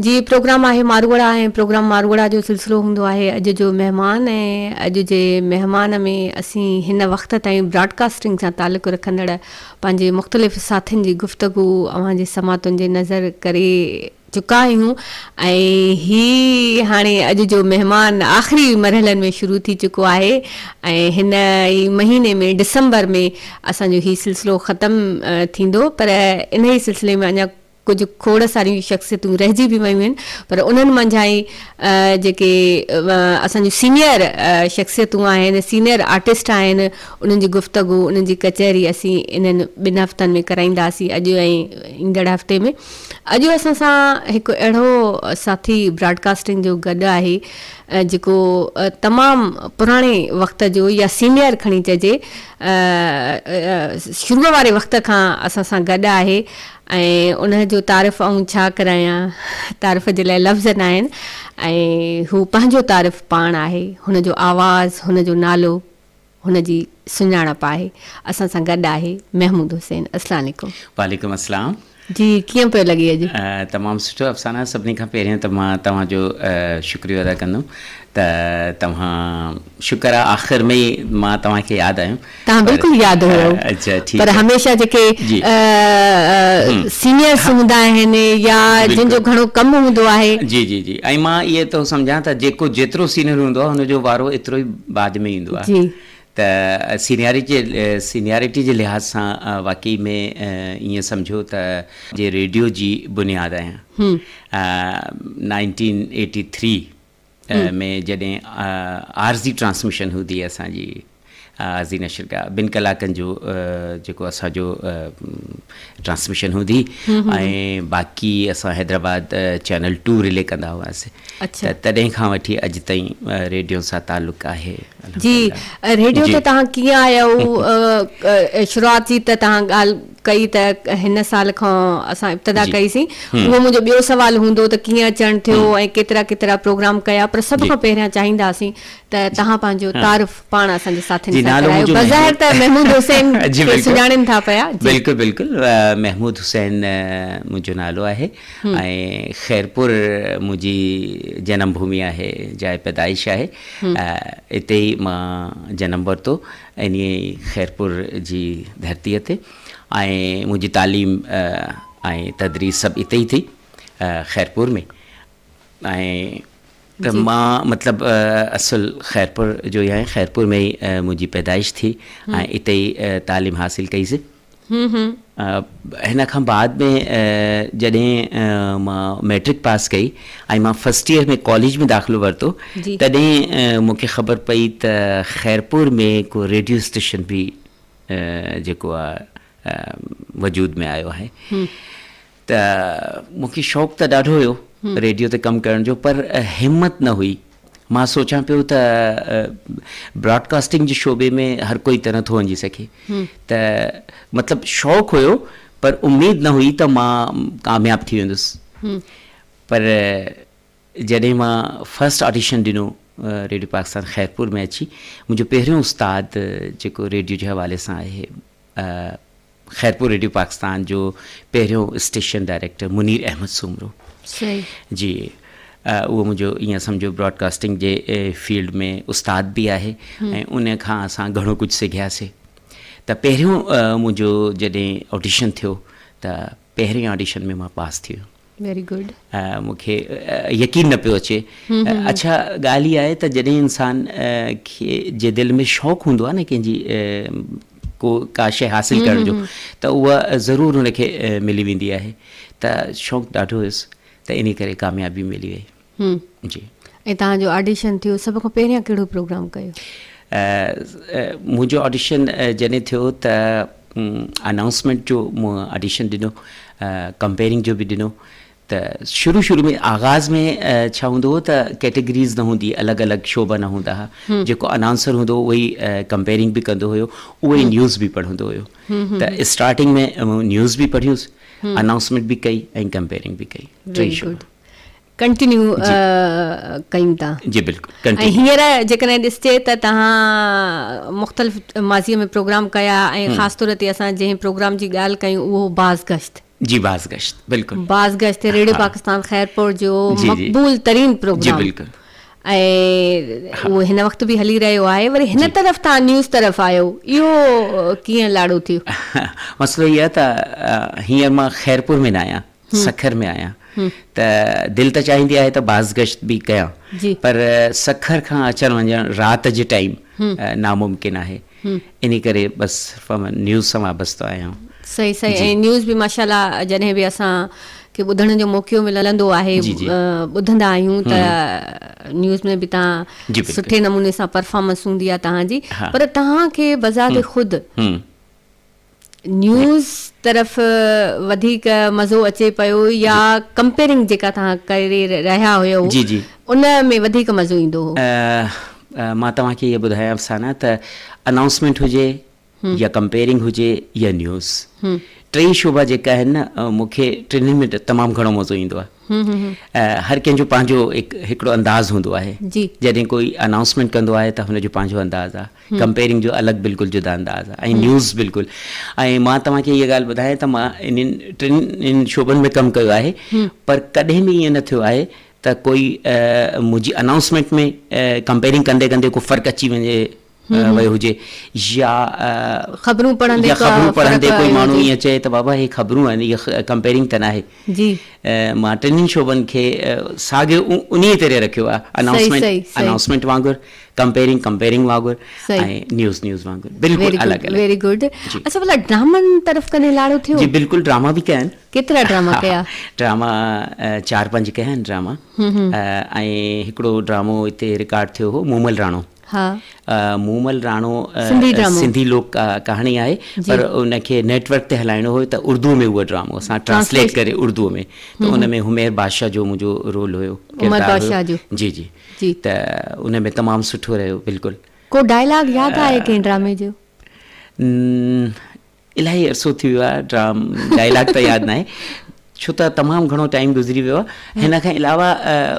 جي پروگرام آهي ماروئڙا ۽ پروگرام ماروئڙا جو سلسلو هوندو آهي اڄ جو مهمان ۽ اڄ جي مهمان ۾ اسين هن وقت تائين براڊڪاسٽنگ سان تعلق رکندڙ پنهنجي مختلف ساٿين جي گفتگو اوهان جي سماعتن جي نظر ڪري چڪا آهيون ۽ هي هاڻي اڄ جو مهمان آخري مرحلن ۾ شروع ٿي چڪو آهي ۽ هن ئي مهيني ۾ ڊسمبر ۾ اسان جو هي سلسلو ختم ٿيندو پر انهي سلسلي ۾ اڃا ڪجهه کوڙ ساريون شخصيتون رهجي به ويون آهن پر انهن منجهان ئي جيڪي اسان جون سينئر شخصيتون آهن سينئر آرٽسٽ آهن انهن جي گفتگو انهن جي ڪچهري اسين انهن ٻن هفتن ۾ ڪرائينداسين اڄ ۽ ايندڙ هفتي ۾. اڄ اسان سان هڪ اهڙو ساٿي براڊڪاسٽنگ جو گڏ آهي جيڪو تمام پراڻي وقت جو يا سينئر کڻي چئجي شروع واري وقت کان اسان سان گڏ آهي ۽ ان جو تعارف آئون ڇا ڪرايان تعارف جي لاء لفظ نه آهن ۽ هو پنهنجو تعارف پاڻ آهي هن جو آواز هن جو نالو هن جي سڃاڻپ آهي. اسان سان گڏ آهي محمود حسين اسلام عليڪم. وعليڪم السلام. جي ڪيئن پيو لڳي اڄ. تمام سٺو افسانه سڀني کان پهريون ته مان توهان جو شڪريو ادا ڪندم ته توهان شڪر آ آخر ۾ مان توهان کي ياد آيم. توهان بلڪل ياد هيو پر هميشه جيڪي سينيئرس هوندا آهن يا جن جو گهڻو ڪم هوندو آهي. جي جي جي ۽ مان اهي ٿو سمجهان ته جيڪو جيترو سينيئر هوندو آهي ان جو وارو ايترو ئي بعد ۾ ايندو آهي ته سينيارٽي سينيارٽي جي لحاظ سان واقعي ۾ ائين سمجهو ته جي ريڊيو جي بنياد آهيان نائنٽين ايٽي ٿري ۾ جڏهن عارضي ٽرانسميشن هوندي اسان جي عارضي نشرگاهه ٻن ڪلاڪن جو جيڪو اسانجو ٽرانسميشن هوندي ۽ باقي اسان حيدرآباد چينل ٽو رلي ڪندا هئاسين اڇا ته تڏهن کان وٺي اڄ تائين ريڊيو سان تعلق آهي جي ريڊيو تي تهان ڪيئن آيا شروعات جي ته تهان ڳالهه ڪئي ته هن سال کان اسان ابتدا ڪئي سين اهو منهنجو ٻيو سوال هوندو ته ڪيئن اچڻ ٿيو ۽ ڪيترا ڪيترا پروگرام ڪيا پر سڀ کان پهريان چاهيندا سين ته تهان پنهنجو تعارف پاڻ اسان جي ساٿين سان ڪرايو بظاهر ته محمود حسين کي سڃاڻين ٿا پيا بلڪل بلڪل محمود حسين منهنجو نالو آهي ۽ خيرپور منهنجي جنم ڀومي آهي، جاء پيدائش آهي، اتي ئي مان جنم ورتو، انهيء ئي خيرپور جي ڌرتيء تي، ۽ منهنجي تعليم ۽ تدريس سڀ اتي ئي ٿي، خيرپور ۾، ۽ ته مان مطلب اصل خيرپور جو ئي آهيان، خيرپور ۾ ئي منهنجي پيدائش ٿي، ۽ اتي ئي تعليم حاصل ڪئي سي. هن کان بعد ۾ جڏهن مان مئٽرڪ پاس ڪئي ۽ مان فرسٽ ايئر ۾ ڪاليج ۾ داخلو ورتو تڏهن مون کي خبر پئي ته خيرپور ۾ ڪو ريڊيو اسٽيشن به جيڪو آهي وجود ۾ آيو آهي ته مون کي شوق ته ڏاڍو هيو ريڊيو تي ڪم ڪرڻ جو پر همت نه هئي مان سوچان پيو ته براڊڪاسٽنگ جي شعبي ۾ هر ڪوئي ته نٿو وڃي سگهي ته مطلب شوق هيو پر اميد نه هئي ته مان ڪامياب ٿي ويندس پر جڏهن مان فرسٽ آڊيشن ڏنو ريڊيو پاڪستان خيرپور ۾ اچي منهنجو پهريون استاد جيڪو ريڊيو جي حوالي سان آهي خيرپور ريڊيو پاڪستان جو پهريون اسٽيشن ڊائريڪٽر منير احمد سومرو جي اهو منهنجو ائين سمجهو براڊڪاسٽنگ جي فيلڊ ۾ استاد به آهي ۽ ان کان اسان گهڻو ڪجهه سکياسين ته پهريون منهنجو جڏهن آڊيشن ٿيو ته پهرين آڊيشن ۾ مان پاس ٿي ويم Very good. مون کي يقين نه پيو اچي. اڇا ڳالهه هي آهي ته جڏهن انسان کي جي دل ۾ شوق هوندو آهي نه ڪنهن جي ڪو ڪا شيء حاصل ڪرڻ جو ته اها ضرور ان کي ملي ويندي آهي ته شوق ڏاڍو هيس ته انهي ڪري ڪاميابي ملي وئي. جي ۽ توهان جو آڊيشن ٿيو سڀ کان پهريان ڪهڙو پروگرام ڪيو؟ منهنجو آڊيشن جڏهن ٿيو ته انائونسمينٽ جو مون آڊيشن ڏنو ڪمپيرنگ جو به ڏنو ته شروع شروع ۾ آغاز ۾ ڇا هوندو هو ته ڪيٽيگريز نه هوندي الڳ الڳ شعبا نه هوندا هئا جيڪو انائونسر هوندو هو اهو ئي ڪمپيرنگ به ڪندو هيو اهو ئي نيوز به پڙهندو هيو ته اسٽارٽنگ ۾ نيوز به پڙهيوس انائونسمينٽ به ڪئي ۽ ڪمپيرنگ به ڪئي ٽي شعبا ڪنٽينيو ڪيون ٿا جي بلڪل ۽ هينئر جيڪڏهن ڏسجي ته تهان مختلف ماضي ۾ پروگرام ڪيا ۽ خاص طور تي اسان جنهن پروگرام جي ڳالهه ڪيون اهو هو باز گشت جي باز گشت بلڪل باز گشت ريڊيو پاڪستان خيرپور جو مقبول ترين پروگرام جي بلڪل ۽ اهو هن وقت به هلي رهيو آهي وري هن طرف تهان نيوز طرف آيو اهو ڪيئن لاڙو ٿيو مسئلو اهو آهي ته هينئر مان خيرپور ۾ نه آهيان سکر ۾ آهيان ته دل ته چاهيندي آهي ته بازگشت به ڪيان پر سکر کان اچڻ وڃڻ رات جي ٽائيم ناممڪن آهي انهي ڪري بس فمن نيوز سان وابستو آهيان. صحيح صحيح ۽ نيوز به ماشاءالله جڏهن به اسان کي ٻڌڻ جو موقعو ملندو آهي ٻڌندا آهيون ته نيوز ۾ به تان سٺي نموني سان پرفامنس هوندي آهي تهان جي پر تهان کي بذات خود نيوز طرف وڌيڪ مزو اچي پيو يا ڪمپيرنگ جيڪا توهان ڪري رهيا هيو ان ۾ وڌيڪ مزو ايندو هو؟ مان توهان کي اهي ٻڌايان افسانه ته انائونسمينٽ هجي يا ڪمپيرنگ هجي يا نيوز ٽئي شعبا جيڪا آهن نه مون کي ٽنهن ۾ تمام گهڻو مزو ايندو آهي هر ڪنهن جو پنهنجو هڪڙو انداز هوندو آهي جڏهن ڪوئي انائونسمينٽ ڪندو آهي ته هن جو پنهنجو انداز آهي ڪمپيرنگ جو الڳ بلڪل جدا انداز آهي ۽ نيوز بلڪل ۽ مان توهان کي اها ڳالهه ٻڌايان ته مان انهن ٽن شعبن ۾ ڪم ڪيو آهي پر ڪڏهن به ائين نه ٿيو آهي ته ڪوئي منهنجي انائونسمينٽ ۾ ڪمپيرنگ ڪندي ڪندي ڪو فرق اچي وڃي ويو هجي يا خبرون پڙهندي ڪوئي ماڻهو ائين چئي ته بابا هي خبرون آهن هي ڪمپيرنگ ته ناهي. جي. مان ٽنهي شعبن کي ساڳيو انهيء طرح رکيو آهي، انائونسمينٽ انائونسمينٽ وانگر، ڪمپيئرنگ ڪمپيئرنگ وانگر ۽ نيوز نيوز وانگر بلڪل الڳ الڳ. Very good. اچا ڀلا ڊرامن طرف ڪڏهن لاڙو ٿيو؟ جي بلڪل ڊراما به ڪيا آهن. ڪيترا ڊراما ڪيا؟ ڊراما چار پنج ڪيا آهن ڊراما ۽ هڪڙو ڊرامو هتي رڪارڊ ٿيو هو مومل راڻو. ها. مومل راڻو سنڌي ڊرامو. سنڌي لوڪ ڪهاڻي آهي جي. پر ان کي نيٽ ورڪ تي هلائڻو هيو ته اردوء ۾ اهو ڊرامو اسان ٽرانسليٽ ٽرانسليٽ. ڪري اردوء ۾ ته ان ۾ همير بادشاهه جو منهنجو رول هيو عمر ڪردار هيو بادشاهه جو. جي جي جي. ته ان ۾ تمام سٺو رهيو بلڪل. ڪو ڊائلاگ ياد آهي ڪنهن ڊرامي جو؟ ن. الاهي عرصو ٿي ويو آهي ڊرام ڊائلاگ ته ياد ناهي ڇو ته تمام گهڻو ٽائيم گذري ويو آهي هن کان علاوه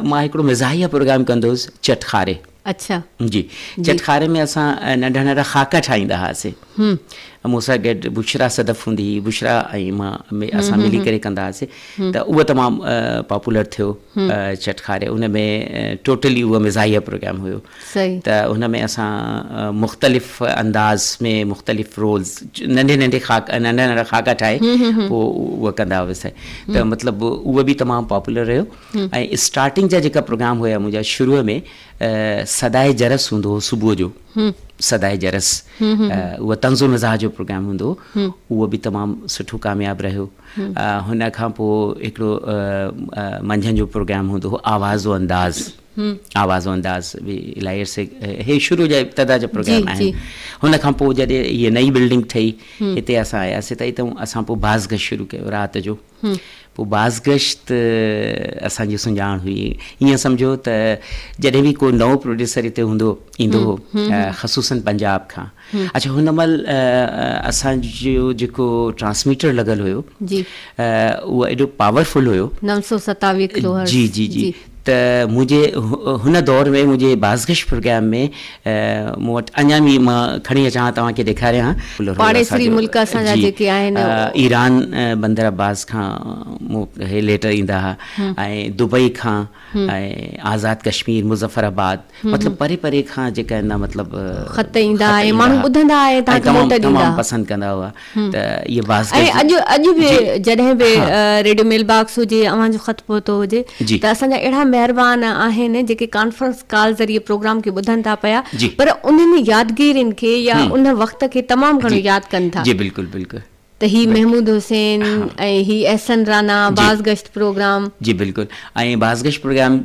مان هڪڙو مزاحيه پروگرام ڪندو هوس چٽ کاري اڇا جي چٽ کاري ۾ اسان ننڍا ننڍا خاڪا ٺاهيندا هئاسي هم مون سان گڏ بشرا صدف هوندي هئي بشرا ۽ مان اسان ملي ڪري ڪندا هئاسي ته اهو تمام پاپولر ٿيو چٽ کاري ان ۾ ٽوٽلي اهو مزاحيه پروگرام هيو صحيح. ته ان ۾ اسان مختلف انداز ۾ مختلف رولز ننڍي ننڍي خاڪ ننڍا ننڍا خاڪا ٺاهي پوء اهو ڪندا هئسي ته مطلب اهو به تمام پاپولر رهيو ۽ اسٽارٽنگ جا جيڪا پروگرام هيا منهنجا شروع ۾ صدائي جرس هوندو هو صبح جو صدائي جرس اهو طنز و مزاح جو پروگرام هوندو هو اهو به تمام سٺو ڪامياب رهيو هن کان پوء هڪڙو منجهند جو پروگرام هوندو هو آواز و انداز آواز و انداز به الائي عرصي هي شروع جا ابتدا جا پروگرام آهن هن کان پوء جڏهن هي نئي بلڊنگ ٺهي هتي اسان آياسي ته هتي اسان پوء باز گشت شروع ڪيو رات جو پوء باز گشت اسان جي سڃاڻ هئي ائين سمجهو ته جڏهن به ڪو نئون پروڊيوسر هتي هوندو ايندو هو خصوصن پنجاب کان اچھا هن مهل اسان جو جيڪو ٽرانسميٽر لڳل هيو اهو ايڏو پاور فل هيو نو سؤ ستاويهه ڪلو هرٽز جي جي جي ته منهنجي هن دور ۾ منهنجي بازگشت پروگرام ۾ مون وٽ اڃا به مان کڻي اچان ها توهان کي ڏيکاريان ها پاڙيسري ملڪ اسان جا جيڪي آهن ايران بندر عباس کان مون کي ليٽر ايندا ها ۽ دبئي کان آزاد ڪشمير، مظفر آباد مطلب پري پري کان جيڪا آهن نه مطلب خط ايندا ها ۽ ماڻهو ٻڌندا ها ۽ تهان کي موٽ ڏيندا ها. پسند ڪندا هئا ته اهي بازگشت جي. ۽ اڄ اڄ به جڏهن به ريڊيو ميل باڪس هجي يا اوهان جو خط پهتو هجي ته اسان جا اهڙا مهربان آهن جيڪي ڪانفرنس ڪال ذريعي پروگرام کي ٻڌن ٿا پيا پر انهن يادگيرين کي يا ان وقت کي تمام گهڻو ياد ڪن ٿا. جي بلڪل بلڪل. ته هي محمود حسين ۽ هي احسن رانا بازگشت پروگرام. جي بلڪل ۽ بازگشت پروگرام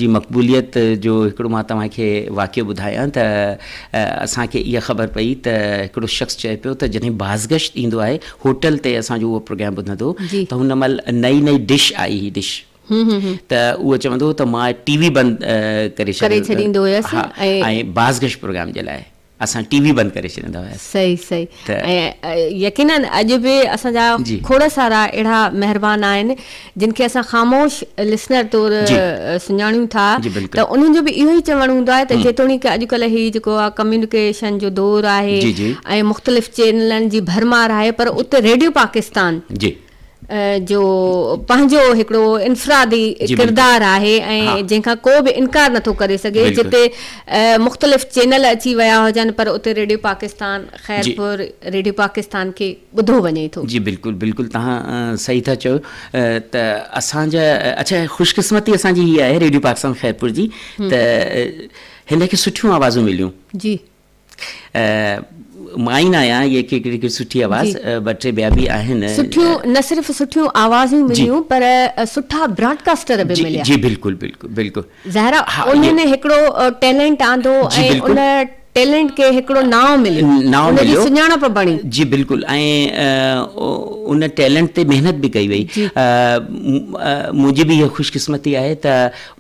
جي مقبوليت جو هڪڙو مان توهان کي واقعو ٻڌايان ته اسان کي اها خبر پئي ته هڪڙو شخص چئي پيو ته جڏهن بازگشت ايندو آهي هوٽل تي اسان جو اهو پروگرام ٻڌندو ته هن مهل نئي نئي ڊش آئي هئي ڊش ته اهو چوندو هو ته مان ٽي وي بند ڪري ڇڏيندو هيس ۽ بازگشت پروگرام جي لاء. اسان ٽي وي بند ڪري ڇڏيندا هياسين. صحيح صحيح ۽ يقينن اڄ به اسان جا کوڙ سارا اهڙا مهربان آهن جن کي اسان خاموش لسنر طور سڃاڻيون ٿا ته انهن جو به اهو ئي چوڻ هوندو آهي ته جيتوڻيڪ اڄڪلهه هي جيڪو ڪميونيڪيشن جو دور آهي ۽ مختلف چينلن جي ڀرمار آهي پر اتي ريڊيو پاڪستان جو پنهنجو هڪڙو انفرادي ڪردار آهي ۽ جنهن کان ڪو به انڪار نٿو ڪري سگهي جتي مختلف چينل اچي ويا هجن پر اتي ريڊيو پاڪستان خيرپور ريڊيو پاڪستان کي ٻڌو وڃي ٿو. جي بلڪل بلڪل توهان صحيح ٿا چئو ته اسان جا اڇا خوش قسمتي اسان جي هي آهي ريڊيو پاڪستان خيرپور جي ته هن کي سٺيون آوازون مليون جي. مائين آهيان اهي هڪڙي سٺي آواز ٻه ٽي ٻيا به آهن سٺيون نه صرف سٺيون آوازون مليون پر سٺا براڊڪاسٽر به مليا جي بلڪل بلڪل بلڪل زهرا انهن هڪڙو ٽيلنٽ آندو ۽ ان ٽيلنٽ کي هڪڙو نانء مليو ان جي سڃاڻپ بڻي جي بلڪل ۽ ان ٽيلنٽ تي محنت به ڪئي وئي منهنجي به اها خوش قسمتي آهي ته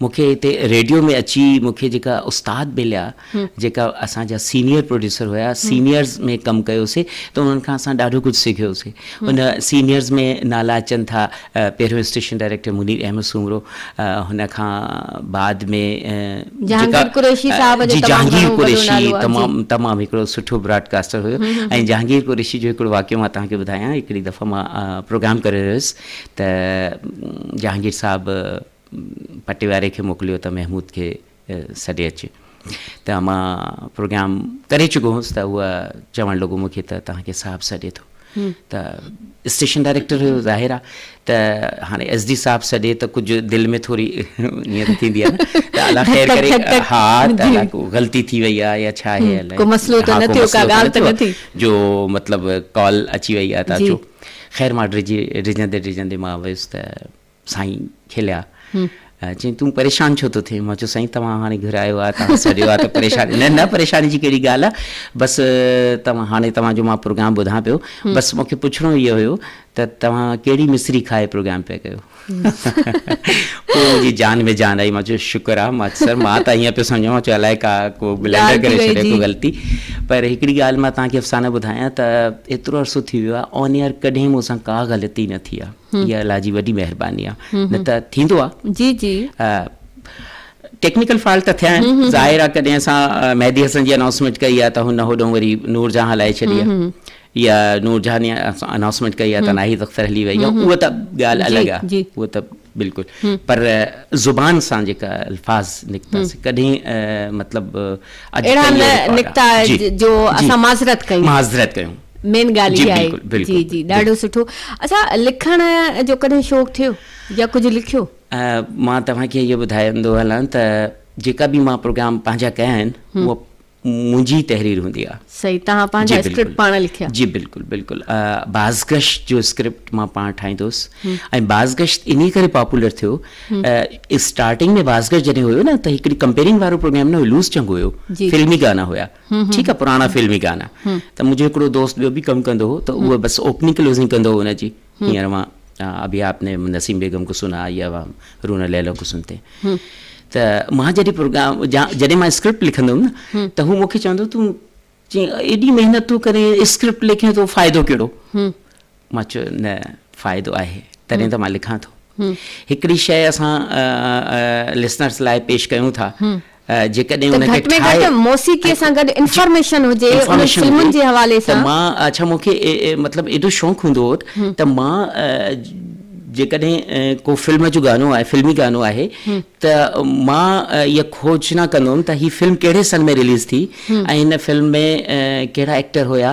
مونکي هتي ريڊيو ۾ اچي مونکي جيڪا استاد مليا جيڪا اسان جا سينيئر پروڊيوسر هيا سينيئرز ۾ ڪم ڪيوسي ته انهن کان اسان ڏاڍو ڪجهه سکيوسي ان سينيئرز ۾ نالا اچن ٿا پهريون اسٽيشن ڊائريڪٽر منير احمد سومرو هن کان بعد ۾ جيڪا جي جهانگير قريشي تمام تمام هڪڙو سٺو براڊ ڪاسٽر هيو ۽ جهانگير قريشي جو هڪڙو واقعو مان توهان کي ٻڌايان هڪڙي دفعه مان پروگرام ڪري رهيو هيس ته جهانگير صاحب پٽي واري کي موڪليو ته محمود کي سڏي اچي ته مان پروگرام ڪري چڪو هوس ته هو چوڻ لڳو مون کي ته توهان کي صاحب سڏي ٿو ته اسٽيشن ڊائريڪٽر هيو ظاهر آ ته هاڻي ايس ڊي صاحب سڏي ته ڪجهه دل ۾ ٿوري نيت ٿيندي آ ته الله خير ڪري ها ته غلطي ٿي وئي آ يا ڇا هي الائي ڪو مسئلو ته نه ٿيو ڪا ڳالهه ته نه ٿي جو مطلب ڪال اچي وئي آ ته اچو خير مان ڊڄندي ڊڄندي مان ويس ته سائين کليا ۽ چيائين تون پريشان ڇو ٿو ٿئين؟ مان چيو سائين توهان هاڻي گهرايو آهي توهان سڏيو آهي ته پريشاني نه نه پريشاني جي ڪهڙي ڳالهه آهي بس توهان هاڻي توهان جو مان پروگرام ٻڌان پيو بس مونکي پڇڻو اهو هيو ته توهان ڪهڙي مصري کائي پروگرام پيا ڪيو پوء منهنجي جان ۾ جان آئي مان چيو شڪر آهي مان سر مان ته ائين پيو سمجهان مان چيو الائي ڪا ڪو بلنڊر ڪري ڇڏي ڪو غلطي پر هڪڙي ڳالهه مان توهان کي افسانه ٻڌايان ته ايترو عرصو ٿي ويو آهي آن ايئر ڪڏهن مون سان ڪا غلطي نه ٿي آهي اها الله جي وڏي مهرباني آ نه ته ٿيندو آ جي جي ٽيڪنيڪل فالٽ ته ٿيا آهن ظاهر آ ڪڏهن اسان مهدي حسن جي انائونسمينٽ ڪئي آ ته هن هوڏهون وري نور جهان هلائي ڇڏي آ يا نور جهان انائونسمينٽ ڪئي آ ته ناهيد اختر هلي وئي آ اهو ته ڳالهه الڳ آ اهو ته بلڪل پر زبان سان جيڪا الفاظ نڪتا سي ڪڏهن مطلب اهڙا نه نڪتا جو اسان معذرت ڪيون معذرت ڪيون مين ڳالهه اها آهي جي جي ڏاڍو سٺو اچا لکڻ جو ڪڏهن شوق ٿيو يا ڪجهه لکيو مان توهان کي اهي ٻڌائيندو هلان ته جيڪا به مان پروگرام پنهنجا ڪيا آهن اهو منهنجي تحرير هوندي آهي صحيح توهان پنهنجا اسڪرپٽ پاڻ لکيا جي بلڪل بلڪل بازگش جو اسڪرپٽ مان پاڻ ٺاهيندو هوس ۽ بازگش انهي ڪري پاپولر ٿيو اسٽارٽنگ ۾ بازگش جڏهن هيو نه ته هڪڙي ڪمپيرنگ وارو پروگرام نه هيو لوز چنگ هيو فلمي گانا هيا ٺيڪ آ پراڻا فلمي گانا ته منهنجو هڪڙو دوست ٻيو به ڪم ڪندو هو ته اهو بس اوپننگ ڪلوزنگ ڪندو هو ان جي هينئر مان ابي آپ ني نسيم بيگم ڪو سنا يا رونا ليلو ڪو سنتي ته مان جڏهن پروگرام جڏهن مان اسڪرپٽ لکندو هوم نه ته هو مونکي چوندو تون چي ايڏي محنت ٿو ڪرين اسڪرپٽ لکين ٿو فائدو ڪهڙو مان چيو نه فائدو آهي تڏهن ته مان لکان ٿو. هڪڙي شيء اسان لسنرز لاء پيش ڪيون ٿا جيڪڏهن ان کي ٺاهي ته گهٽ ۾ گهٽ موسيقي سان گڏ انفارميشن هجي انهن فلمن جي حوالي سان. ته مان اڇا مون کي مطلب ايڏو شوق هوندو هو ته مان جيڪڏهن ڪو فلم جو گانو آهي فلمي گانو آهي ته مان اها کوجنا ڪندو هوم ته هي فلم ڪهڙي سن ۾ رليز ٿي ۽ هن فلم ۾ ڪهڙا ايڪٽر هيا.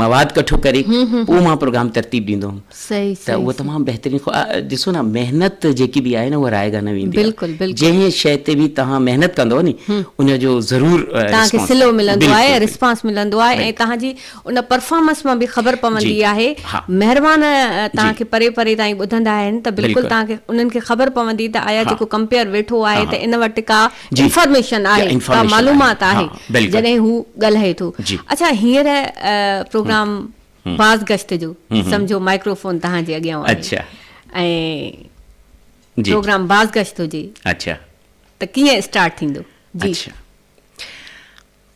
مواد ڪٺو ڪري پوء مان پروگرام ترتيب ڏيندو هوم ته اهو تمام بهترين خو ڏسو نه محنت جيڪي به آهي نه اها رائيگان نه ويندي آهي جنهن شيء تي به توهان محنت ڪندو ني ان جو ضرور توهان کي صلو ملندو آهي رسپانس ملندو آهي ۽ توهان جي ان پرفارمنس مان به خبر پوندي آهي مهربان توهان کي پري پري تائين ٻڌندا آهن ته بلڪل توهان کي انهن کي خبر پوندي ته آيا جيڪو ڪمپيئر ويٺو آهي ته ان وٽ ڪا انفارميشن آهي ڪا معلومات آهي جڏهن هو ڳالهائي ٿو اڇا هينئر پروگرام باز گشت جو سمجهو مائڪرو فون توهان جي اڳيان آهي ۽ پروگرام باز گشت هجي ته ڪيئن اسٽارٽ ٿيندو جي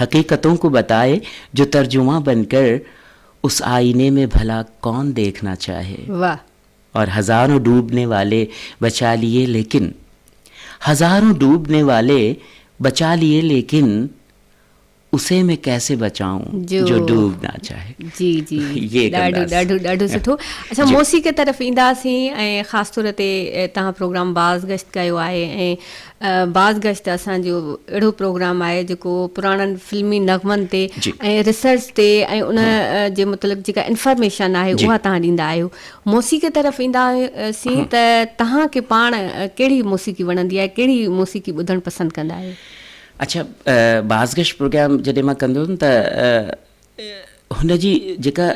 حقيقتون ڪو بتائي جو ترجمان بن ڪر اس آئيني مين ڀلا ڪون ديکنا چاهي واھ. اور هزارون ڊوبني والي بچا ليي ليڪن هزارون ڊوبني والي بچا ليي ليڪن اسي مين ڪيسي بچائون جو جو ڊوب نا چاهي جي جي يي ڏاڍو ڪنداس ڏاڍو ڏاڍو سٺو اسان جي. موسيقي طرف اينداسين ۽ خاص طور تي تهان پروگرام باز گشت ڪيو آهي ۽ باز گشت اسان جو اهڙو پروگرام آهي جيڪو پراڻن فلمي نغمن تي ۽ ريسرچ تي ۽ ان جي متعلق جيڪا انفارميشن آهي اها توهان ڏيندا آهيو. موسيقي طرف ايندا سين ته توهان کي پاڻ ڪهڙي موسيقي وڻندي آهي ڪهڙي موسيقي ٻڌڻ پسند ڪندا آهيو. اڇا باز گشت پروگرام جڏهن مان ڪندو هيم ته هن جي جيڪا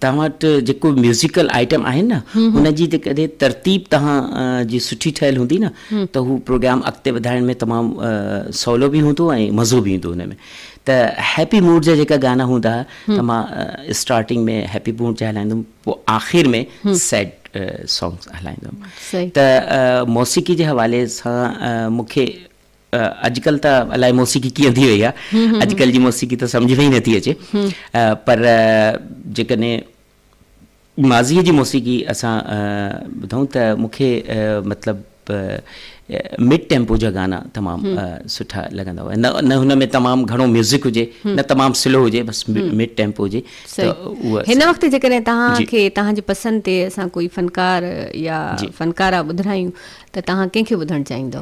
توهان وٽ جيڪو به ميوزيڪل آئٽم آهن نه هن جي جيڪڏهن ترتيب توهان جي سٺي ٺهيل هوندي نه ته هو پروگرام اڳتي وڌائڻ ۾ تمام سولو به هوندو ۽ مزو به ايندو هن ۾ ته هيپي موڊ جا جيڪا گانا هوندا ته مان اسٽارٽنگ ۾ هيپي موڊ جا هلائيندم پوء آخر ۾ سيڊ سانگس هلائيندم ته موسيقي جي حوالي سان مون کي اڄڪلهه ته الائي موسيقي ڪيئن ٿي وئي آهي اڄڪلهه جي موسيقي ته سمجهه ۾ ئي نٿي اچي پر جيڪڏهن ماضيء جي موسيقي اسان ٻڌون ته مون کي مطلب مڊ ٽيمپو جا گانا تمام سٺا لڳندا هئا نه نه هن ۾ تمام گهڻو ميوزڪ هجي نه تمام سلو هجي بس مڊ ٽيمپو هجي هن وقت جيڪڏهن توهان جي. کي تهان جي پسند تي اسان ڪوئي فنڪار يا جي. فنڪارا ٻڌرايون ته توهان ڪنهن کي ٻڌڻ چاهيندو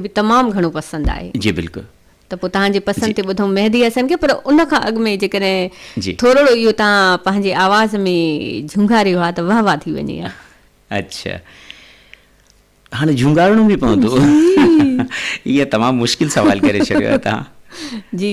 به تمام گهڻو پسند آهي. جي بلڪل. ته پوء تهان جي پسند تي ٻڌون مهدي حسن کي پر ان کان اڳ ۾ جيڪڏهن ٿورڙو اهو تهان پنهنجي آواز ۾ جهونگاريو ها ته واه واه ٿي وڃي ها. اڇا هاڻي جهونگارڻو به پوندو. جي. اهي تمام مشڪل سوال ڪري ڇڏيو آهي تهان. جي.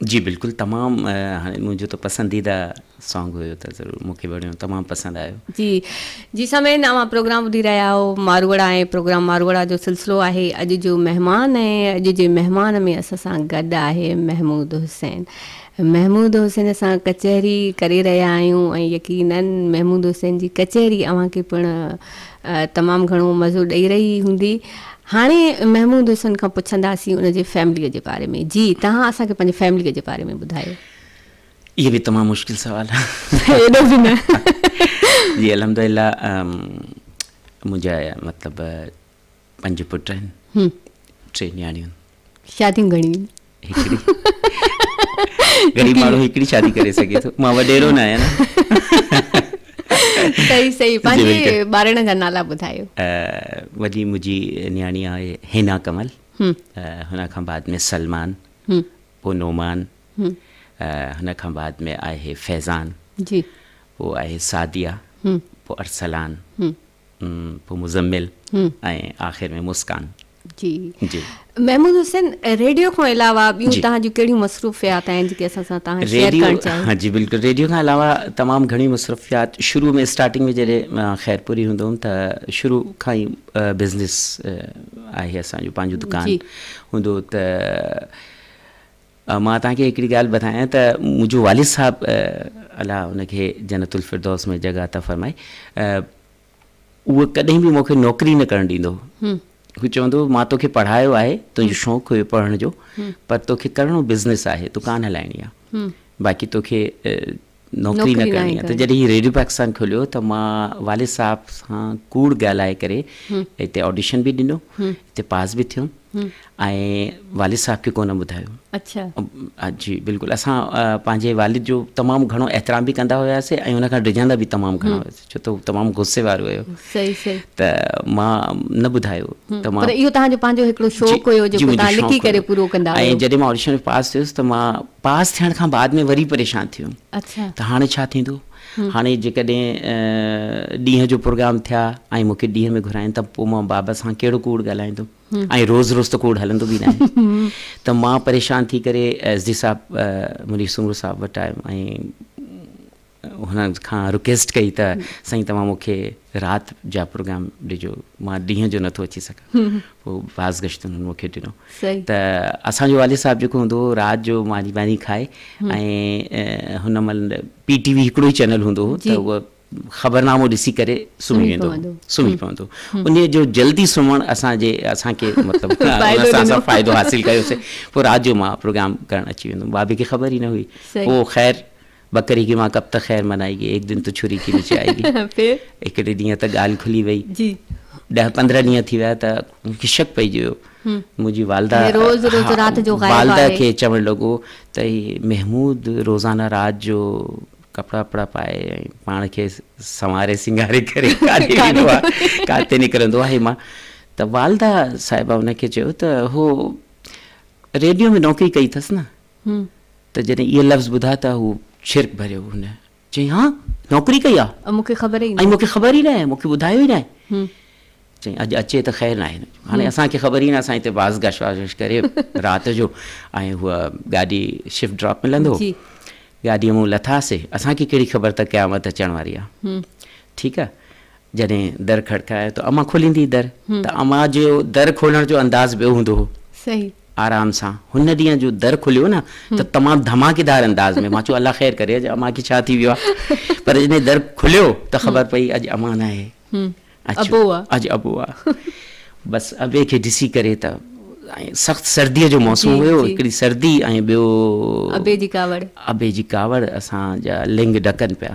جي بلڪل تمام هاڻي منهنجو ته پسنديده سانگ هيو ته ضرور مون کي وڻيو تمام پسند آيو. جي جي سامعين اوهان پروگرام ٻڌي رهيا آهيو ماروئڙا ۽ پروگرام ماروئڙا جو سلسلو آهي اڄ جو مهمان ۽ اڄ جي مهمان ۾ اسان سان گڏ آهي محمود حسين محمود حسين سان ڪچهري ڪري رهيا آهيون ۽ يقينن محمود حسين جي ڪچهري اوهان کي پڻ تمام گهڻو مزو ڏئي رهي هوندي. هاڻي محمود حسن کان پڇنداسين ان جي فيمليء جي باري ۾. جي تهان اسان کي پنهنجي فيمليء جي باري ۾ ٻڌايو. اهي به تمام مشڪل سوال آهن. ايڏو به نه. جي الحمدلله منهنجا مطلب پنج پٽ آهن ٽي نياڻيون. شاديون گهڻيون هڪڙي غريب ماڻهو هڪڙي شادي ڪري سگهي ٿو مان وڏيرو نه آهيان صحيح صحيح پنهنجي ٻارڙن جا نالا ٻڌايو وڏي منهنجي نياڻي آهي هينا ڪمل هن کان بعد ۾ سلمان پوء نومان هن کان بعد ۾ آهي فيضان جي پوء آهي سعديا پوء ارسلان پوء مزمل ۽ آخر ۾ مسڪان. جي جي محمود حسين ريڊيو کان علاوه ٻيون تهان جون ڪهڙيون مصروفيات آهن جيڪي اسان سان تهان شيئر ڪرڻ چاهيو ها جي بلڪل ريڊيو کان علاوه تمام گهڻي مصروفيات شروع ۾ اسٽارٽنگ ۾ جڏهن خيرپوري هوندو هوم ته شروع کان ئي بزنس آهي اسان جو پنهنجو دڪان هوندو ته مان توهان کي هڪڙي ڳالهه ٻڌايان ته منهنجو والد صاحب الله ان کي جنت الفردوس ۾ جڳهه عطا فرمائي اهو ڪڏهن به مون کي نوڪري نه ڪرڻ ڏيندو هو هو چوندو هو مان توکي پڙهايو آهي تنهنجو شوق هيو پڙهڻ جو پر توکي ڪرڻو بزنس آهي دڪان هلائڻي آهي باقي توکي نوڪري نه ڪرڻي آهي ته جڏهن هي ريڊيو پاڪستان کوليو ته مان والد صاحب سان ڪوڙ ڳالهائي ڪري هتي آڊيشن به ڏنو هتي پاس به ٿيم ۽ والد صاحب کي ڪونه ٻڌايو اچھا جي بلڪل اسان پنهنجي والد جو تمام گهڻو احترام به ڪندا هياسي ۽ ان کان ڊڄندا به تمام گهڻا ڇو ته هو تمام غصي وارو هيو ته مان نه ٻڌايو ته مان پر اهو تهان جو پنهنجو هڪڙو شوق هيو جو تهان لکي ڪري پورو ڪندا هيو ۽ جڏهن مان آڊيشن ۾ پاس ٿيس ته مان پاس ٿيڻ کان بعد ۾ وري پريشان ٿي ويم ته هاڻي ڇا ٿيندو هاڻي جيڪڏهن ڏينهن جو پروگرام ٿيا ۽ مون کي ڏينهن ۾ گهرائين ته پوء مان بابا سان ڪهڙو ڪوڙ ڳالهائيندم ۽ روز روز ته ڪوڙ هلندو به ناهي ته مان پريشان ٿي ڪري ايس ڊي صاحب منير سومرو صاحب وٽ آيم ۽ هن کان رڪويسٽ ڪئي ته سائين توهان مون کي رات جا پروگرام ڏجو مان ڏينهن جو نٿو اچي سگهان پوء باز گشت هنن مون کي ڏنو ته اسان جو والد صاحب جيڪو هوندو هو رات جو ماني واني کائي ۽ هن مهل پي ٽي وي هڪڙو ئي چينل هوندو هو ته هو خبرنامو ڏسي ڪري سمهي ويندو هو سمهي پوندو ان جو جلدي سمهڻ اسان جي اسان کي مطلب اسان سان فائدو حاصل ڪيوسي پوء رات جو مان پروگرام ڪرڻ اچي ويندو هوم بابي کي خبر ئي نه هئي پوء خير ٻڪري ڪي وهان ڪب تڪ خير منائي گي هڪ دن تو ڇري ڪي نيچي آئي گي هڪڙي ڏينهن ته ڳالهه کلي وئي ڏهه پندرهن ڏينهن ٿي ويا ته مون کي شڪ پئجي ويو منهنجي والده والده کي چوڻ لڳو ته هي محمود روزانه رات جو ڪپڙا وپڙا پائي ۽ پاڻ کي سنواري سينگاري ڪري ڪاٿي ويندو آهي ڪاٿي نڪرندو آهي ماء ته والده صاحبه ان کي چيو ته هو ريڊيو ۾ نوڪري ڪئي اٿس نه ته جڏهن اهي لفظ ٻڌا ته هو ڇرڪ ڀريو هن چيائين ها نوڪري ڪئي آ ۽ مون کي خبر ئي مون کي خبر ئي ناهي مون کي ٻڌايو ئي ناهي چيائين اڄ اچي ته خير ناهي هاڻي اسان کي خبر ئي نه اسان هتي باز گش واز وش ڪري رات جو ۽ هو گاڏي شفٽ ڊراپ ملندو گاڏي مون لٿاسي اسان کي ڪهڙي خبر ته قيامت اچڻ واري آ ٺيڪ آ جڏهن در کڙڪايو ته امان کوليندي در ته امان جو در کولڻ جو انداز ٻيو هوندو هو. آرام سان هن ڏينهن جو در کليو نه ته تمام ڌماڪيدار انداز ۾ مان چيو الله خير ڪري اڄ امان کي ڇا ٿي ويو آهي پر جڏهن در کليو ته خبر پئي اڄ امان آهي اچو اڄ ابو آ بس ابي کي ڏسي ڪري ته سخت سردي جو موسم هيو هڪڙي سردي ۽ ٻيو ابي جي ڪاوڙ ابي جي ڪاوڙ اسان جا لنگ ڏڪن پيا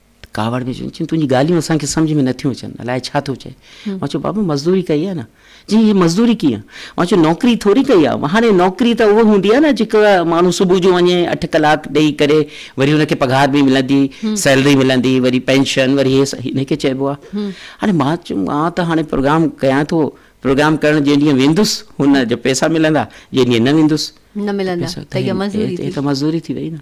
ڪاوڙ ۾ چيو، تنهنجي ڳالهيون اسان کي سمجهه ۾ نٿيون اچن، الاء ڇا ٿو چئين؟ مان چيو، بابا مزدوري ڪئي آهي نه. چيائين، هي مزدوري ڪيئن؟ مان چيو، نوڪري ٿوري ڪئي آهي. هاڻي نوڪري ته اها هوندي آهي نه جيڪا ماڻهو صبح جو وڃي اٺ ڪلاڪ ڏيئي ڪري وري هن کي پگهار به ملندي، سيلري ملندي، وري پينشن، وري هي سڀ هن کي چئبو آهي. هاڻي مان چيم مان ته هاڻي پروگرام ڪيان ٿو، پروگرام ڪرڻ جنهن ڏينهن ويندس هن جا پئسا ملندا، جنهن ڏينهن نه ويندس. نه ملندا ته اها مزدوري ٿي. هي ته مزدوري ٿي وئي نه.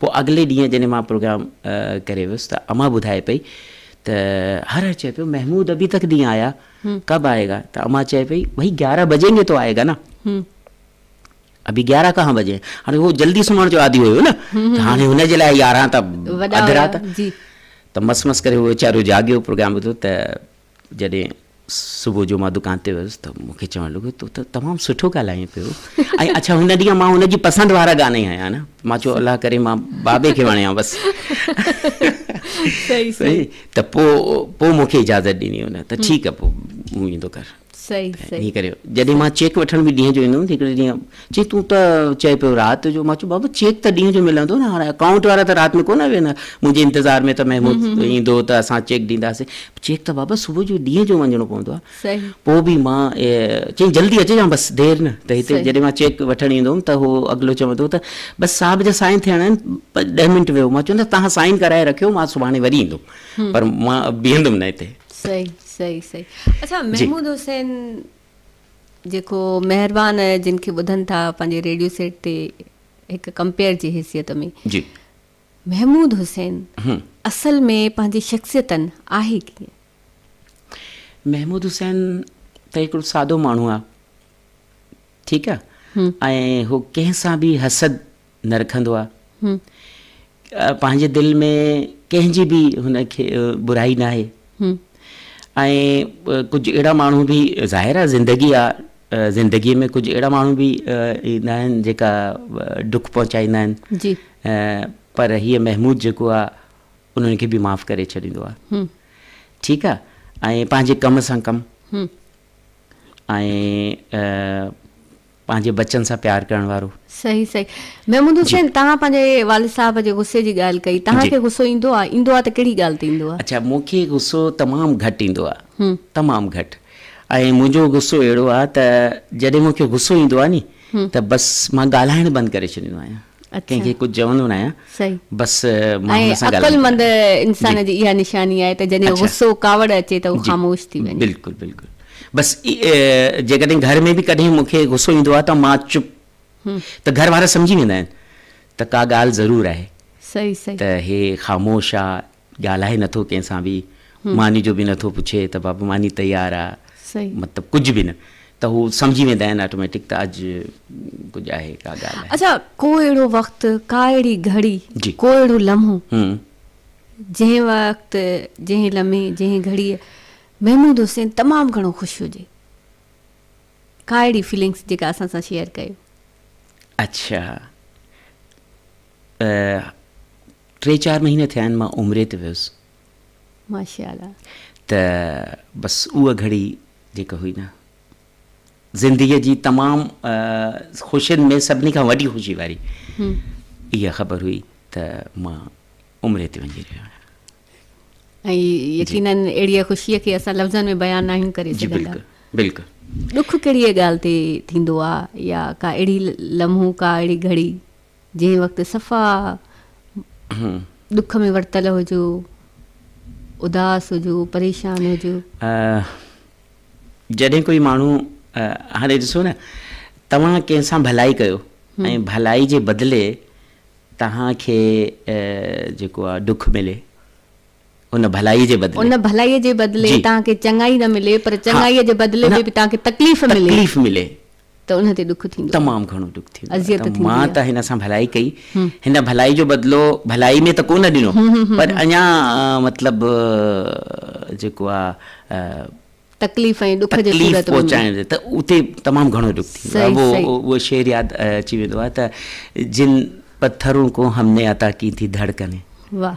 پوء اڳلي ڏينهن جڏهن مان پروگرام ڪري ويس ته امان ٻڌائي پئي ته هر هر چئي پيو محمود ابي تڪ دين آيا ڪب آئي گا ته امان چئي پئي ڀئي گيارهن بجين گي تو آئي گا نا ابي گيارهن ڪهان بجين هاڻي هو جلدي سمهڻ جو عادي هيو نه هاڻي هن جي لاء يارهن ته اڌ رات ته مس مس ڪري هو ويچارو جاڳيو پروگرام ٻڌو ته جڏهن صبح جو مان دڪان تي ويس ته مون کي چوڻ لڳو تو ته تمام سٺو ڳالهائين پيو ۽ اڇا هن ڏينهن مان هن جي پسند وارا گانا ئي هنيا نه مان چيو الله ڪري مان بابي کي وڻيان بس صحيح صحيح ته پو پو مون کي اجازت ڏني هن ته ٺيڪ آ پو مون ايندو ڪر صحيح صحيح ڪري جڏهن مان چيڪ وٺڻ به ڏينهن جو ايندو هيم هڪڙي ڏينهن چي تون ته چئي پيو رات جو. مان چيو بابا چيڪ ته ڏينهن جو ملندو نه هاڻي اڪائونٽ وارا ته رات ۾ ڪونه ويهندا منهنجي انتظار ۾ ته محمود ايندو ته اسان چيڪ ڏينداسين چيڪ ته بابا صبح جو ڏينهن جو وڃڻو پوندو آهي پوء به مان چيائين جلدي اچجان بس دير نه ته هتي جڏهن مان چيڪ وٺڻ ايندو هوم ته هو اڳلو چوندو ته بس صاحب جا سائن ٿيڻا آهن ڏهه منٽ ويهو مان چوندس توهان سائن ڪرائي رکيو مان سڀاڻي وري ايندم پر مان بيهندم نه هتي صحيح صحيح صحيح اڇا محمود حسين جيڪو مهربان جن کي ٻڌن ٿا پنهنجي ريڊيو سيٽ تي هڪ ڪمپيئر جي حيثيت ۾ جي محمود حسين اصل ۾ پنهنجي شخصيتن آهي ڪيئن؟ محمود حسين ته هڪڙو سادو ماڻهو آ ٺيڪ آ ۽ هو ڪنهن سان به حسد نه رکندو آ پنهنجي دل ۾ ڪنهن جي به هن کي برائي ناهي ۽ ڪجهه اهڙا ماڻهو به ظاهر آ زندگي آ زندگي ۾ ڪجهه اهڙا ماڻهو به ايندا آهن جيڪا ڏک پهچائيندا آهن جي پر هي محمود جيڪو آ انهن کي به معاف ڪري ڇڏيندو آ ٺيڪ آ ۽ پنهنجي ڪم سان ڪم ۽ پنهنجي بچن سان پيار ڪرڻ وارو. صحيح صحيح محمود حسين توهان پنهنجي والد صاحب جي غصي جي ڳالهه ڪئي توهان کي غصو ايندو آهي ايندو آهي ته ڪهڙي ڳالهه تي ايندو آهي. اڇا مون کي غصو تمام گهٽ ايندو آهي تمام گهٽ ۽ منهنجو غصو اهڙو آهي ته جڏهن مون کي غصو ايندو آهي ني ته بس مان ڳالهائڻ بند ڪري ڇڏيندو آهيان. ڪنهن کي ڪجهه چوندو نه آهيان بس ماڻهن سان ڳالهائيندو آهيان. عقلمند انسان جي اها نشاني آهي ته جڏهن غصو ڪاوڙ اچي ته هو خاموش ٿي وڃي. بلڪل بلڪل بس جيڪڏهن گهر ۾ به ڪڏهن مون کي غصو ايندو آهي ته مان چپ ته گهر وارا سمجهي ويندا آهن ته ڪا ڳالهه ضرور آهي ته هي خاموش آهي. ڳالهائي نٿو ڪنهن سان به ماني جو به نٿو پڇي ته بابا ماني تيار آ مطلب ڪجهه به نه ته هو سمجهي ويندا آهن آٽوميٽڪ ته اڄ ڪجهه آهي ڪا ڳالهه آهي اڇا ڪو اهڙو وقت ڪا اهڙي گهڙي ڪو اهڙو لمحو جنهن وقت جنهن لمحي جنهن گهڙي محمود حسين تمام گهڻو خوش هجي ڪا اهڙي فيلنگس جيڪا اسان سان شيئر ڪيو اڇا ٽي چار مهينا ٿيا آهن مان عمري تي ويس. ماشاءالله. ته بس اها گهڙي جيڪا هئي نه زندگيء جي تمام خوشين ۾ سڀني کان وڏي خوشي واري اها خبر هئي ته مان عمري تي وڃي رهيو آهيان. ۽ يقيناً اهڙيء خوشيء کي اسان لفظن ۾ بيان ناهيون ڪري سگهندا. جي بلڪل بلڪل. ڏک ڪهڙيء ڳالهه تي ٿيندو آهي يا ڪا اهڙي لمحو ڪا اهڙي گهڙي جنهن وقت صفا ڏک ۾ ورتل هجو، اداس هجو، پريشان هجو. جڏهن ڪوئي ماڻهو، هاڻي ڏسو نه توهان ڪنهن سان ڀلائي ڪيو ۽ ڀلائي جي بدلي توهان کي جيڪو آ ڏک ملي. ان ڀلائي جي بدلي. ان ڀلائي جي بدلي توهان کي چڱائي نه ملي پر چڱائي جي بدلي ۾ به توهان کي تڪليف ملي. تڪليف ملي. ته ان تي ڏک ٿيندو آهي. تمام گهڻو ڏک ٿيندو آهي. اذيت ٿيندي آهي. مان ته هن سان ڀلائي ڪئي. هن ڀلائي جو بدلو ڀلائي ۾ ته ڪو نه ڏنو پر اڃا مطلب جيڪو آهي. تڪليف ۽ ڏک جي صورت ۾. تڪليف پهچائڻ جي ته اتي تمام گهڻو ڏک ٿيندو آهي. صحيح صحيح. اهو شعر ياد اچي ويندو آهي ته جن پٿرون ڪو همني عطا ڪي ٿي ڌڙڪني. واهه.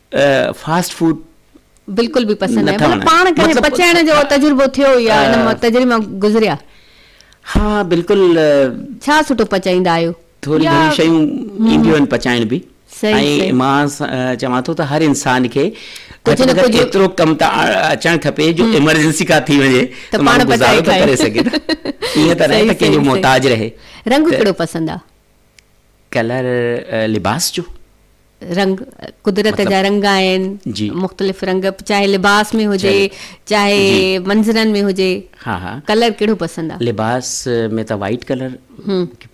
فاسٽ فوڊ بلڪل به پسند ناهي مطلب پاڻ ڪڏهن پچائڻ جو تجربو ٿيو يا ان مان تجربي مان گذريا ها بلڪل ڇا سٺو پچائيندا آهيو ٿوري گهڻي شيون اينديون آهن پچائڻ به ۽ مان چوان ٿو ته هر انسان کي ڪجهه نه ڪجهه ايترو ڪم ته اچڻ کپي جو ايمرجنسي ڪا ٿي وڃي ته پاڻ گذارو ته ڪري سگهي ايئن ته نه ته ڪنهن جو محتاج رهي رنگ ڪهڙو پسند آهي ڪلر لباس جو رنگ قدرت جا رنگ آهن مختلف رنگ چاهي لباس ۾ هجي چاهي منظرن ۾ هجي ڪلر ڪهڙو پسند آهي لباس ۾ ته وائيٽ ڪلر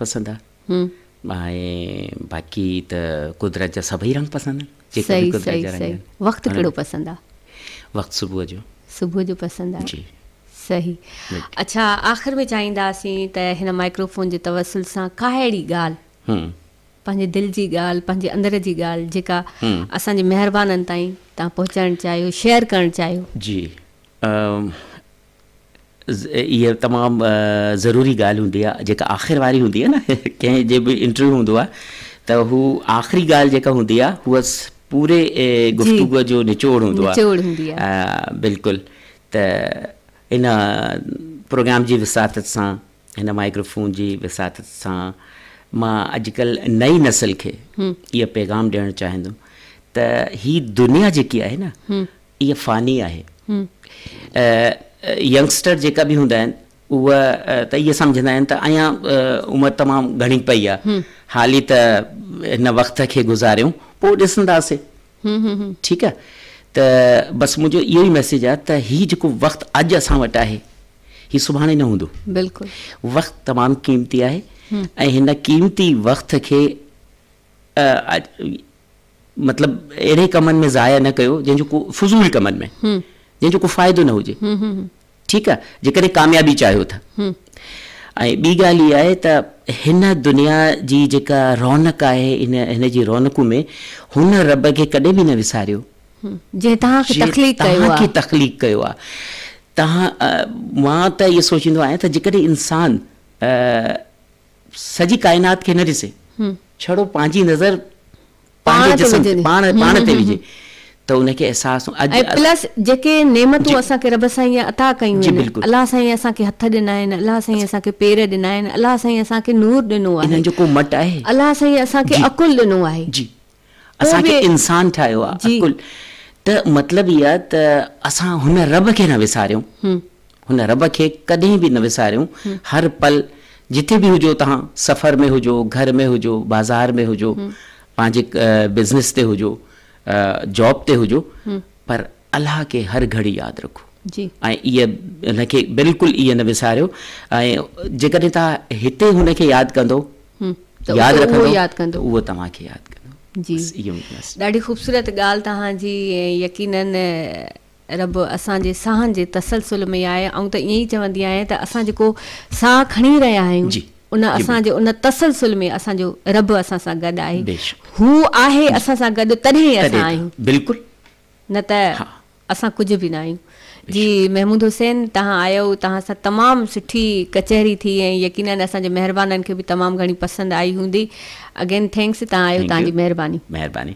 پسند آهي ۽ باقي ته قدرت جا سڀئي رنگ پسند آهن وقت ڪهڙو پسند آهي وقت صبح جو صبح جو پسند آهي صحيح اڇا آخر ۾ چاهينداسين ته هن مائڪرو فون جي توسل سان ڪا اهڙي ڳالهه هن پنهنجي دل جي ڳالهه پنهنجي اندر جي ڳالهه جيڪا اسان جي مهربانن تائين تان پهچائڻ چاهيو شيئر ڪرڻ چاهيو. جي اها تمام ضروري ڳالهه هوندي آهي جيڪا آخر واري هوندي آهي نه ڪنهن جي به انٽرويو هوندو آهي ته هو آخري ڳالهه جيڪا هوندي آهي هو پوري گفتگو جو نچوڙ هوندو آهي نچوڙ هوندي آهي بلڪل ته ان پروگرام جي وساطت سان هن مائڪرو فون جي وساطت سان مان اڄڪلهه نئين نسل کي اهو پيغام ڏيڻ چاهيندم ته هي دنيا جيڪي آهي نه اها فاني آهي ينگسٽر جيڪا به هوندا آهن اهو ته اهي سمجهندا آهن ته اڃا عمر تمام گهڻي پئي آهي حالي ته هن وقت کي گذاريون پوء ڏسنداسي ٺيڪ آ ته بس منهنجو اهو ئي ميسيج آ ته هي جيڪو وقت اڄ اسان وٽ آهي هي سڀاڻي نه هوندو بلڪل وقت تمام قيمتي آهي ۽ هن قيمتي وقت کي مطلب اهڙي ڪمن ۾ ضايع نه ڪيو جنهن جو ڪو فضول ڪمن ۾ جنهن جو ڪو فائدو نه هجي ٺيڪ آ جيڪڏهن ڪاميابي چاهيو ٿا ۽ ٻي ڳالهه اها آهي ته هن دنيا جي جيڪا رونق آهي ان هن جي رونقون ۾ هن رب کي ڪڏهن به نه وساريو جنهن توهان کي تخليق ڪيو آ توهان کي تخليق ڪيو آ توهان مان ته اهو سوچيندو آهيان ته جيڪڏهن انسان سڄي ڪائنات کي نه ڏسي ڇڙو پنهنجي نظر پنهنجي جسم تي پاڻ پاڻ تي وجهي ته ان کي احساس ۽ پلس جيڪي نعمتون اسان کي رب سائين عطا ڪيون آهن الله سائين اسان کي هٿ ڏنا آهن الله سائين اسان کي پير ڏنا آهن الله سائين اسان کي نور ڏنو آهي انهن جو ڪو مٽ آهي الله سائين اسان کي عقل ڏنو آهي اسان کي انسان ٺاهيو آ عقل ته مطلب اهي آ ته اسان هن رب کي نه وساريون هن رب کي ڪڏهن به نه وساريون هر پل جتي به هجو توهان سفر ۾ هجو گهر ۾ هجو بازار ۾ هجو پنهنجي بزنس تي هجو جاب تي هجو پر الله کي هر گهڙي ياد رکو جي ۽ ان کي بلڪل ائين نه وساريو ۽ جيڪڏهن توهان هتي هن کي ياد ڪندو ته ياد رکندو ته اهو توهان کي ياد ڪندو جي ڏاڍي خوبصورت ڳالهه توهان جي ۽ يقيناً رب اسان جي ساهن جي تسلسل ۾ آهي آئون ته ائين ئي چوندي آهيان ته اسان جيڪو ساهه کڻي رهيا آهيون ان اسان جي ان تسلسل ۾ اسان جو رب اسان سان گڏ آهي هو آهي اسان سان گڏ تڏهن ئي اسان آهيون بلڪل نه ته اسان ڪجهه به ناهيون. جي محمود حسين تهان آيو تهان سان تمام سٺي ڪچهري ٿي ۽ يقينن اسان جي مهربانن کي به تمام گهڻي پسند آئي هوندي اگين ٿينڪس تهان آيو تهان جي مهرباني. مهرباني.